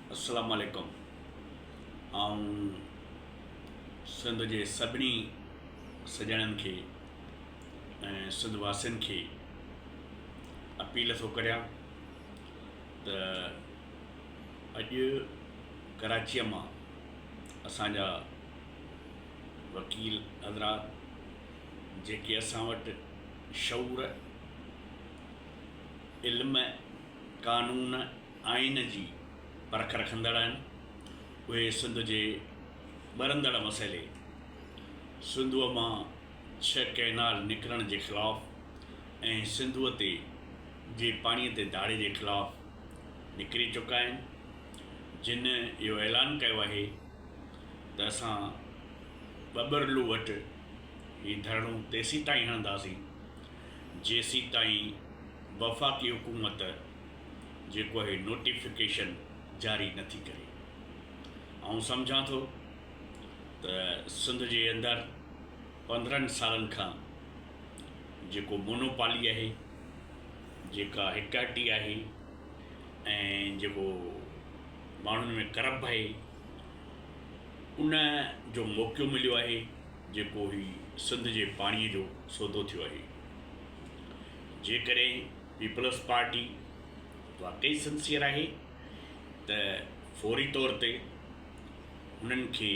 السلام عليڪم آئون سنڌ جي سڀني سڄڻن کي ۽ سنڌ واسين کي اپيل ٿو ڪريان ته اڄ ڪراچيء مان اسان جا وڪيل حضرات جيڪي اسان وٽ شعور علم قانون آئين جي پرک رکندڙ آهن اهي سنڌ جي ٻرندڙ مسئلي سنڌوء مان ڇهه ڪئنال نڪرڻ جي خلاف ۽ سنڌوء تي جي پاڻي تي ڌاڙي جي خلاف نڪري چڪا آهن جن اهو اعلان ڪيو آهي ته اسان ٻٻرلو وٽ هي ڌرڻو تيسين تائين هڻنداسين جيسيتائين وفاقي حڪومت جيڪو هي نوٽيفڪيشن جاري نه ٿي ڪري. آئون سمجهان ٿو ته سنڌ جي اندر پندرهن سالن کان جيڪو مونوپالي آهي، جيڪا هڪاٽي آهي ۽ جيڪو ماڻهن ۾ ڪرپ آهي ان جو موقعو مليو آهي جيڪو هي سنڌ جي پاڻي جو سودو ٿيو آهي، جيڪڏهن پيپلز پارٽي واقعي سنسيئر آهي ته فوري طور تي هنن کي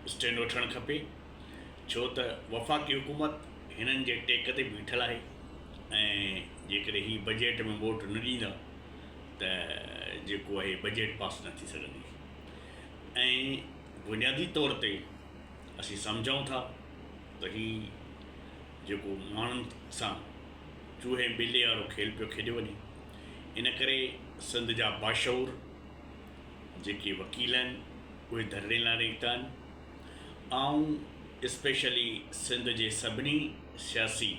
اسٽينڊ وٺڻ کپي ڇو ته وفاقي حڪومت هنن جي ٽيڪ تي بيٺل آهي ۽ جيڪڏهن هي بجيٽ ۾ ووٽ نه ڏيندا ته جيڪو آهي بجيٽ پاس نه ٿي سگهندي ۽ بنيادي طور تي اسين سمجهون ٿا ته هي جيڪو ماڻهن سان چوهي ۽ ٻلي وارو کيل پيو کيڏيو وڃي ان ڪري سنڌ جا باشعور جيڪي وڪيل آهن اهي ڌرڻي لاء نڪتا آهن آئون اسپيشلي سنڌ جي سڀني سياسي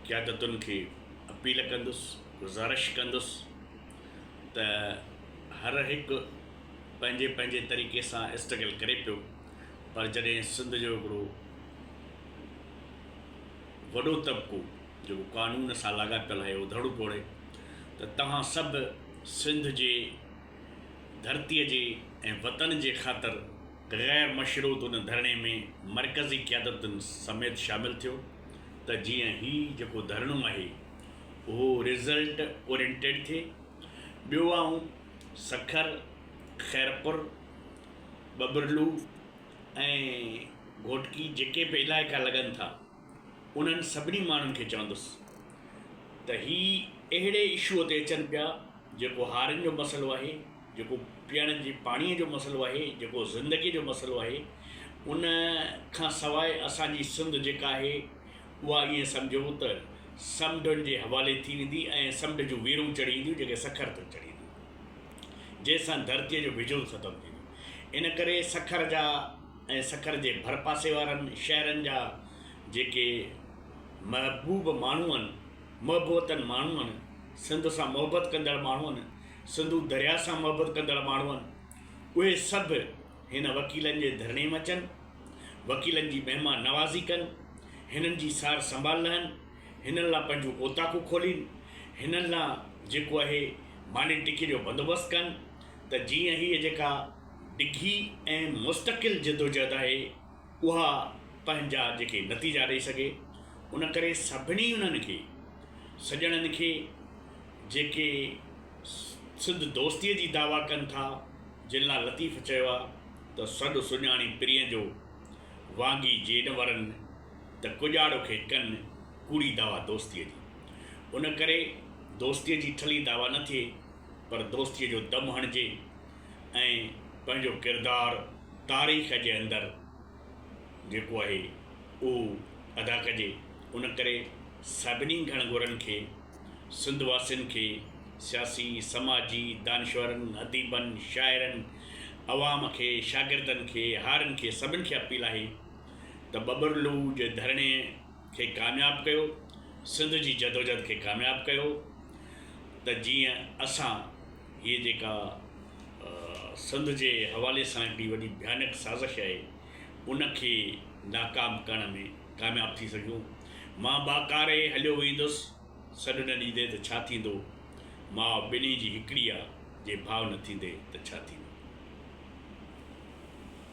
قيادتن کي اپيل ڪندس گذارش ڪندس ته هر هڪ پنهنجي پنهنجي طريقي سان اسٽرگل ڪري پيو پر جڏهن سنڌ جو هڪڙو وڏو طبقو جيڪو قانون سان لاڳاپيل آهي اهو ڌڙو ٽوڙي ته توهان سڀ سنڌ جي ڌرتي جي ۽ وطن جي خاطر غير مشروط ان ڌرڻي ۾ مرڪزي قيادتن سميت شامل ٿيو ته جيئن هي جيڪو ڌرڻو آهي اهو رزلٽ اورينٽيڊ ٿئي ٻيو آئون سکر، خيرپور، ٻٻرلو ۽ گهوٽڪي جيڪي به علائقا لڳن ٿا انهن سڀني ماڻهن کي چوندس ته هي اهڙي اشوء تي اچن پيا جيڪو هارين جو مسئلو آهي، جيڪو پيئڻ جي پاڻيء جو مسئلو آهي، جيڪو زندگيء جو مسئلو آهي، ان کان سواء اسان جي سنڌ جيڪا آهي اها ائين سمجهو ته سمنڊن جي حوالي ٿي ويندي ۽ سمنڊ جون ويرون چڙهي اينديون جيڪي سکر تي چڙهي اينديون جنهن سان ڌرتيء جو وجود ختم ٿيندو ان ڪري سکر جا ۽ سکر جي ڀرپاسي وارن شهرن جا جيڪي محبوب ماڻهو آهن محبوتن ماڻهو آهن سنڌ سان محبت ڪندڙ ماڻهو آهن سنڌو درياء سان محبت ڪندڙ ماڻهو آهن اهي سڀ هن وڪيلن جي ڌرڻي م اچن، وڪيلن جي مهمان نوازي ڪن، هنن جي سار سنڀال لهن، هنن لا پنهنجون اوطاقون کولين، هنن لا جيڪو اهي ماني ٽڪي جو بندوبست ڪن ته جيئن هيء جيڪا ڊگهي ۽ مستقل جدوجهد آهي اها پنهنجا جيڪي نتيجا ڏئي سگهي ان ڪري سڀني انهن کي سڄڻن کي جيڪي سنڌ دوستيء جي دعويٰ ڪن ٿا، جن لاء لطيف چيو آهي ته سڏ سڃاڻي پرينء جو، وانگي جي نه ورن ته ڪڄاڙو کي ڪن، ڪوڙي دعويٰ دوستيء جي ان ڪري دوستيء جي ٺلهي دعويٰ نه ٿئي، پر دوستيء جو دم هڻجي ۽ پنهنجو ڪردار تاريخ جي اندر. جيڪو آهي اهو ادا ڪجي ان ڪري سڀني گهڻ گهرن کي سنڌ واسين کي سياسي سماجي دانشورن اديبن شاعرن عوام کي شاگردن کي هارين کي سڀن کي اپيل آهي ته ٻٻر لوء جي ڌرڻي کي ڪامياب ڪيو سنڌ جي جدوجھد کي ڪامياب ڪيو ته جيئن اسان هيء جيڪا سنڌ جي حوالي سان هڪڙي وڏي ڀيانڪ سازش آهي، ان کي ناڪام ڪرڻ ۾ ڪامياب ٿي سگهيون. مان ٻاڪاري هليو ويندس، سڏ نه ڏيندين ته ڇا ٿيندو؟ ماء ٻنهي جي هڪڙي آ، جي ڀاء نه ٿيندي ته ڇا ٿيندو؟